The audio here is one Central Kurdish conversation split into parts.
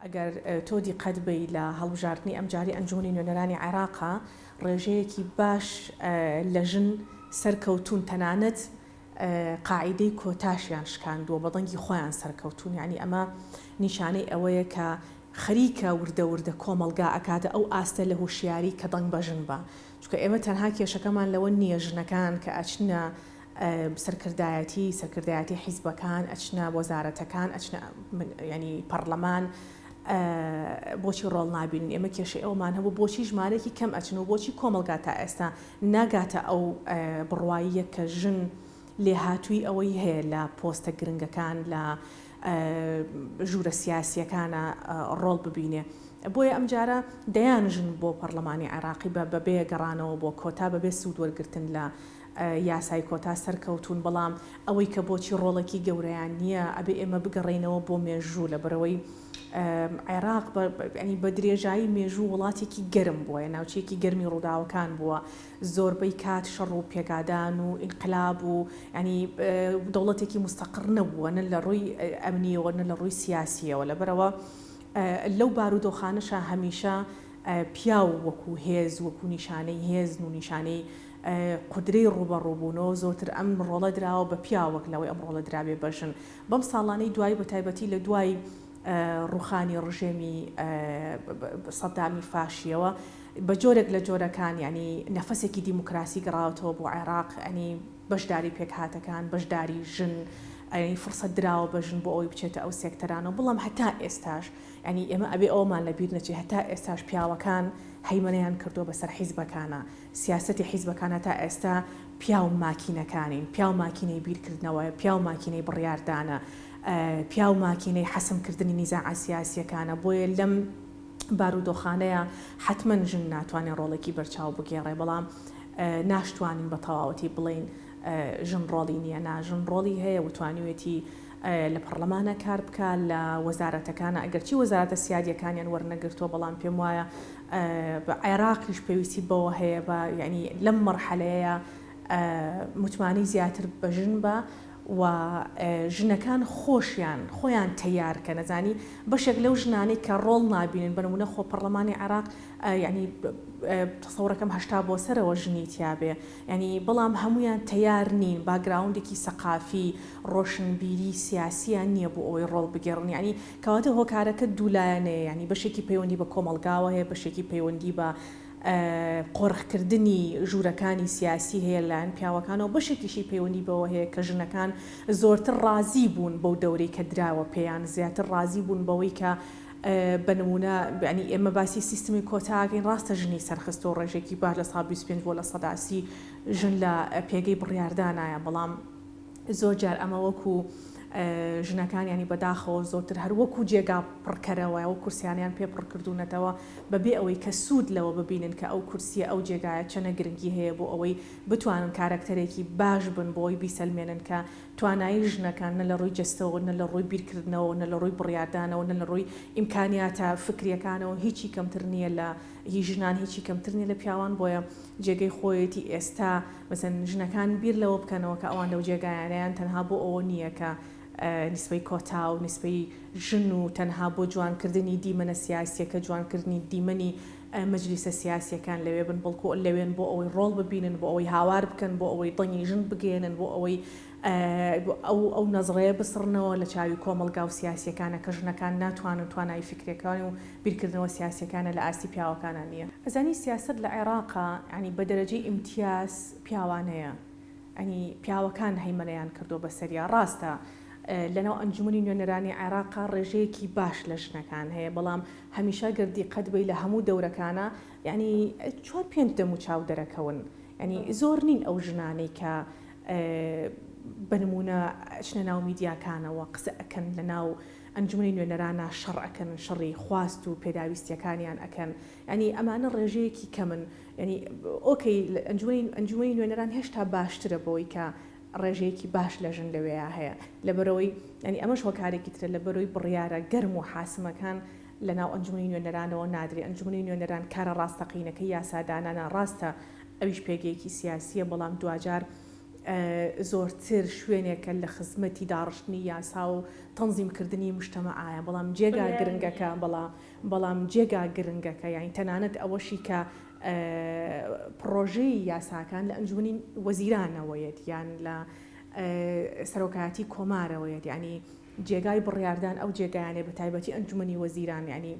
ئەگەر تۆ دیقەت بەی لە هەڵبژاردنی ئەمجاری ئەنجومەنی نوێنەرانی عێراقا ڕێژەیەکی باش لە ژن سەرکەوتوون تەنانەت قاعیدەی کۆتاشیان شکاندووە بە دەنگی خۆیان سەرکەوتوون یانی ئەمە نیشانەی ئەوەیە کە خەریکە وردە وردە کۆمەڵگا ئەکاتە ئەو ئاستە لە هوشیاری کە دەنگ بە ژن با چونکە ئێمە تەنها کێشەکەمان لەوە نیە ژنەکان کە ئەچنە سەرکردایەتی سەرکردایەتی حیزبەکان ئەچنە وەزارەتەکان ئەچنە ینی پەرلەمان بۆچی ڕۆڵ نابینن ئێمە کێشەی ئەومان هەبوو بۆچی ژمارەێکی کەم ئەچن و بۆچی کۆمەلگا تا ئێستا ناگاتە ئەو بڕوااییە کە ژن لێهاتووی ئەوەی هەیە لە پۆستە گرنگەکان لە ژوورە سیاسیەکانە ڕۆڵ ببینێ. بۆیە ئەمجارە دەیان ژن بۆ پەرلەمانی عێراقی بە بەبێ گەڕانەوە بۆ کۆتا بەبێ سوود وەرگتن لە یاسای کۆتا سەرکەوتوون بەڵام ئەوەی کە بۆچی ڕۆڵێکی گەورەیان نییە ئەبێ ئێمە بگەڕێینەوە بۆ مێژوو لەبەرئەوەی عێراق بە درێژایی مێژوو وڵاتێکی گەرم بووە ناوچەیەکی گەرمی ڕووداوەکان بووە زۆربەی کات شەڕ و پێکادان و ئینقلاب و یانی دەوڵەتێکی مستەقڕ نەبووە نە لە ڕووی ئەمنیەوە نە لە ڕووی سیاسیەوە لەبەرئەوە لەو بارودۆخانەشە هەمیشە پیاو وەکو هێز وەکو نیشانەی هێزن و نیشانەی قودرەی ڕووبەڕووبوونەوە زۆرتر ئەم ڕۆڵە دراوە بە پیاو وەک لەوەی ئەم ڕۆڵە درابێ بە ژن بەم ساڵانەی دوایی بە تایبەتی لە دوای ڕووخانی ڕژێمی سەدامی فاشیەوە بە جۆرێک لە جۆرەکان یانی نەفەسێکی دیموکراسی گەڕاوەتەوە بۆ عێراق ئەنی بەشداری پێکهاتەکان بەشداری ژن ئەی فرسەت دراوە بە ژن بۆ ئەوی بچێتە ئەو سێکتەرانەوە بڵام هەتا ئێستاش ئەنی ئێمە ئەبێ ئەومان لە بیر نەچێ هەتا ئێستاش پیاوەکان هەیمەنەیان کردووە بەسەر حیزبەکانە سیاسەتی حیزبەکانە تا ئێستا پیاو ماکینەکانین، پیاو ماکینەی بیرکردنەوە، پیاو ماکینەی بڕیاردانە، پیاو ماکینەی حەسمکردنی نیزاعە سیاسییەکانە، بۆیە لەم بارودۆخانەیا حەتمەن ژن ناتوانێ ڕۆڵێکی بەرچاو بگێڕێ، بەڵام ناشتوانین بە تەواوەتی بڵێین ژن ڕۆڵی نییە، نا ژن ڕۆڵی هەیە و توانیوێتی لە پەڕڵەمانا کار بکا، لە وەزارەتەکانا، ئەگەرچی وەزارەتە سیادییەکانیان وەرنەگرتووە، بەڵام پێم وایە عێراقیش پێویستی بەوە هەیە بە یانی لەم مەرحەلەیە متمانەی زیاتر بە ژن بە و ژنەکان خۆشیان خۆیان تەیار کەن زانی بەشێک لەو ژنانەی کە ڕۆڵ نابینن بە نمونە خۆ پەڕڵەمانی عێراق یانی تەسەوڕەکەم هەشتا بۆ سەرەوە ژنی تیابێ یانی بەڵام هەمویان تەیار نین باگراوندێکی سەقافی ڕۆشنبیری سیاسیان نیە بۆ ئەوەی ڕۆڵ بگێڕن یانی کەواتە هۆکارەکە دوو لایەنەیە یانی بەشێکی پەیوەندی بە کۆمەڵگاوە هەیە بەشێکی پەیوەندی بە قۆرخ کردنی ژوورەکانی سیاسی هەیە لەلایەن پیاوەکانەوە بەشێکیشی پەیوەندی بەوە هەیە کە ژنەکان زۆرتر ڕازی بوون بەو دەورەی کە دراوە پێیان زیاتر ڕازی بوون بەوەی کە بە نموونە یانی ئێمە باسی سیستمی کۆتا ئەکەین ڕاستە ژنی سەرخستووە ڕێژێکی باش لە سا بیست و پێنج بۆ لە سەدا سی ژن لە پێگەی بڕیاردانایە بەڵام زۆر جار ئەمە وەکو ژنەکان یانی بەداخەوە زۆرتر هەر وەکو جێگا پڕکەرەوە ئەو کورسیانەیان پێ پڕ کردوونەتەوە بەبێ ئەوەی کە سوود لەوە ببینن کە ئەو کورسیە ئەو جێگایە چەنە گرنگی هەیە بۆ ئەوەی بتوانن کارەکتەرێکی باش بن بۆ ئەوەی بیسەلمێنن کە توانایی ژنەکان نە لە ڕووی جەستەوە نە لە ڕووی بیرکردنەوە نە لە ڕووی بڕیاردانەوە نە لە ڕووی ئیمکانیاتە فکریەکانەوە هیچی کەمتر نیە لە هی ژنان هیچی کەمتر نیە لە پیاوان بۆیە جێگەی خۆیەتی ئێستا مەسەن ژنەکان بیر لەوە بکەنەوە کە ئەوان لەو جێگایانەیان تەنها بۆ ئەوە نیە کە نیسبەی کۆتا و نیسبەی ژن و تەنها بۆ جوان کردنی دیمەنە سیاسیەکە جوان کردنی دیمەنی مەجلیسە سیاسیەکان لەوێ بن بەڵکو لەوێن بۆ ئەوەی ڕۆڵ ببینن بۆ ئەوەی هاوار بکەن بۆ ئەوەی دەنگی ژن بگەیەنن بۆ ئەوەی ئەو ئەو نەزڕەیە بسڕنەوە لە چاوی کۆمەڵگا و سیاسییەکانە کە ژنەکان ناتوانن توانایی فیکریەکان و بیرکردنەوە سیاسییەکانە لە ئاستی پیاوەکانە نییە. ئەزانی سیاسەت لە عێڕاقا یانی بە دەرەجەی ئیمتیاز پیاوانەیە یانی پیاوەکان هەیمەنەیان کردووە بە سەریا ڕاستە لە ناو ئەنجومەنی نوێنەرانی عێڕاقا ڕێژەیەکی باش لە ژنەکان هەیە بەڵام هەمیشە گەر دیقەت بەی لە هەموو دەورەکانا یانی چوار پێنج دەموچاو دەرەکەون یانی زۆر نین ئەو ژنانەی کە بە نموونە ئەچنە ناو میدیاکانەوە قسە ئەکەن لە ناو ئەنجومەنی نوێنەرانا شەڕ ئەکەن شەڕی خواست و پێداویستیەکانیان ئەکەن یانی ئەمانە ڕێژەیەکی کەمن یانی ئۆکەی ئەنجومەنی ئەنجومەنی نوێنەران هێشتا باشترە بەوەی کە ڕێژەیەکی باش لە ژن لەوێیا هەیە لەبەرەوەی یانی ئەمەش هۆکارێکی ترە لە بەرۆی بڕیارە گەرم و حاسمەکان لە ناو ئەنجومەنی نوێنەرانەوە نادرێ ئەنجومەنی نوێنەران کارە ڕاستەقینەکەی یاسادانانە ڕاستە ئەویش پێگەیەکی سیاسییە، بەڵام دواجار زۆرتر شوێنێکە لە خزمەتی داڕشتنی یاسا و تەنزیم کردنی مشتەمەعایە، بەڵام جێگا گرنگەکە، بەڵام بەڵام جێگا گرنگەکە یانی تەنانەت ئەوەشی کە پڕۆژەی یاساکان لە ئەنجومەنی وەزیرانەوەیەت یان لە سەرۆکایەتی کۆمارەوەیەت یانی جێگای بڕیاردان ئەو جێگایانەیە بەتایبەتی ئەنجومەنی وەزیران یانی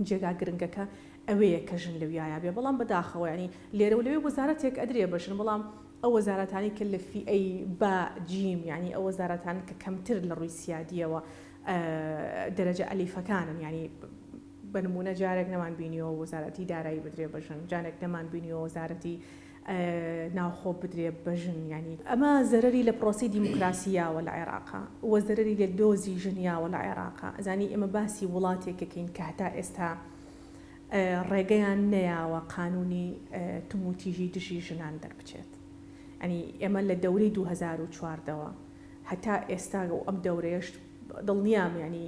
جێگا گرنگەکە ئەوێیە کە ژن لەویایا بێ بەڵام بەداخەوە یانی لێرەو لەوێ وەزارەتێک ئەدرێ بە ژن بەڵام ئەو وەزارەتانەی کە لە فیئەی با جیم یانی ئەو وەزارەتانن کە کەمتر لە ڕووی سیادیەوە دەرەجە ئەلیفەکانن یانی بە نموونە جارێک نەمان بینیوە وەزارەتی دارایی بدرێ بە ژن جانێک نەمان بینیوە وەزارەتی ناوخۆ بدرێ بە ژن یانی ئەمە زەرەری لە پرۆسەی دیموکراسی یاوە لە عێراقا و زەرەری لە دۆزی ژن یاوە لە عێراقا ئەزانی ئێمە باسی وڵاتێک ئەکەین کە هەتا ئێستا ڕێگەیان نەیاوە قانونی توموتیژی دژی ژنان دەربچێت یانی ئێمە لە دەورەی دوو هەزار و چواردە وە هەتا ئێستا و ئەم دەورەیەش دڵنیام یانی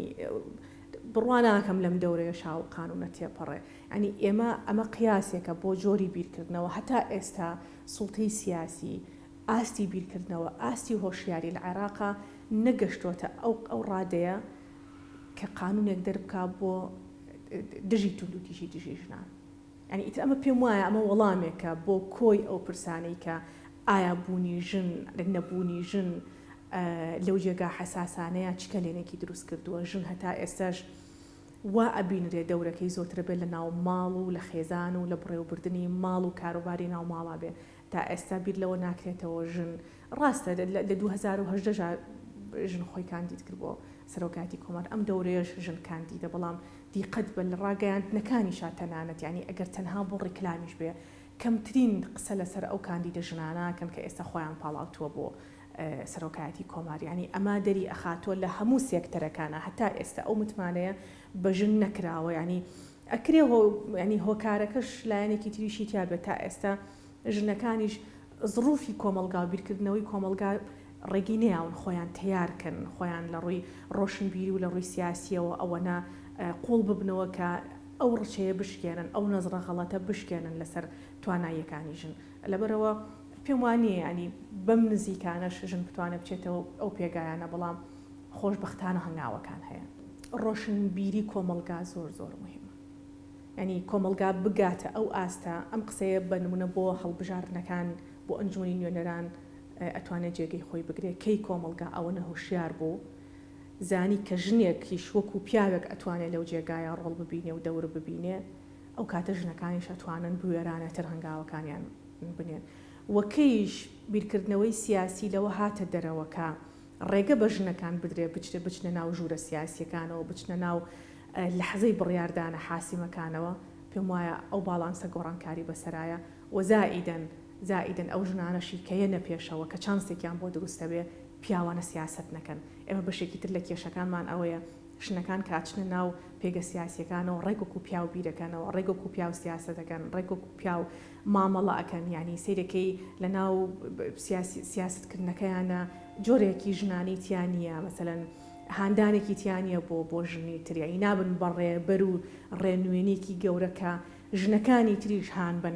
بڕوا ناکەم لەم دەورەیەشا ئەو قانونە تێپەڕێ یانی ئێمە ئەمە قیاسێکە بۆ جۆری بیرکردنەوە هەتا ئێستا سوڵتەی سیاسی ئاستی بیرکردنەوە ئاستی هۆشیاری لە عێراقا نەگەشتۆتە ئەو ئەو ڕادەیە کە قانونێک دەربکا بۆ دژی توندوتیژی دژی ژنان یانی ئیتر ئەمە پێم وایە ئەمە وەڵامێکە بۆ کۆی ئەو پرسانەی کە ئایا بوونی ژن لە نەبوونی ژن لەو جێگا حەساسانەیە چ کەلێنێکی دروست کردووە ژن هەتا ئێستاش وا ئەبینرێ دەورەکەی زۆتر بێ لە ناو ماڵ و لە خێزان و لە بڕێو بردنی ماڵ و کاروباری ناو ماڵا بێ تا ئێستا بیر لەوە ناکرێتەوە ژن ڕاستە لە دوو هەزار و هەژدە ژا ژن خۆی کاندید کرد بۆ سەرۆکایەتی کۆمار ئەم دەورەیەش ژن کاندیدە بەڵام دیقەت بە لە ڕاگەیاندنەکانیشا تەنانەت یانی ئەگەر تەنها بۆ ڕیکلامیش بێ کەمترین قسە لە سەر ئەو کاندیدە ژنانە ئەکەن کە ئێستا خۆیان پاڵاوتووە بۆ سەرۆکایەتی کۆمار یانی ئەمە دەری ئەخاتوە لە هەموو سێکتەرەکانا هەتا ئێستا ئەو متمانەیە بە ژن نەکراوە یانی ئەکرێ هۆ یانی هۆکارەکەش لایەنێکی تریشی تیا بێت تا ئێستا ژنەکانیش زڕوفی کۆمەڵگاو بیرکردنەوەی کۆمەڵگا ڕێگی نەیاون خۆیان تەیار کەن خۆیان لە ڕووی ڕۆشنبیری و لە ڕووی سیاسیەوە ئەوەنە قوڵ ببنەوە کە ئەو ڕچەیە بشکێنن ئەو نەزڕە غەڵەتە بشکێنن لەسەر تواناییەکانی ژن. لەبەرئەوە پێم وا نییە یانی بەم نزیکانەش ژن بتوانێت بچێتەوە ئەو پێگایانە بەڵام خۆشبەختانە هەنگاوەکان هەیە. ڕۆشنبیری کۆمەڵگا زۆر زۆر موهیمە یانی کۆمەڵگا بگاتە ئەو ئاستە ئەم قسەیە بە نمونە بۆ هەڵبژاردنەکان بۆ ئەنجومەنی نوێنەران ئەتوانێت جێگەی خۆی بگرێت کەی کۆمەڵگا ئەوەنە هۆشیار بوو زانی کە ژنێکیش وەکو پیاوێک ئەتوانێت لەو جێگایە ڕۆڵ ببینێ و دەور ببینێ ئەو کاتە ژنەکانیش ئەتوانن بوێرانەتر هەنگاوەکانیان بنێن و کەیش بیرکردنەوەی سیاسی لەوە هاتە دەرەوە کە ڕێگە بە ژنەکان بدرێ بچ بچنە ناو ژوورە سیاسیەکانەوە بچنە ناو لەحزەی بڕیاردانە حاسیمەکانەوە پێم وایە ئەو باڵانسە گۆڕانکاری بەسەرایە و زائیدەن زائیدەن ئەو ژنانەشی کە یەنە پێشەوە کە چانسێکیان بۆ دروستەبێ پیاوانە سیاسەت نەکەن ئێمە بەشێکی تر لە کێشەکانمان ئەوەیە ژنەکان کە ئەچنە ناو پێگە سیاسیەکانەوە ڕێک وەکو پیاو بیرەکەنەوە ڕێک وەکو پیاو سیاسەتەکەن ڕێک وەکو پیاو مامەڵە ئەکەن یانی سەیرەکەی لە ناو سیاست کردنەکەیانە جۆرێکی ژنانی تیانە مەسەەن هاندانێکی تیانە بۆ بۆ ژنی تریایی نابن بە ڕێبەر و ڕێنوێنێکی گەورەکە ژنەکانی تریش هان بن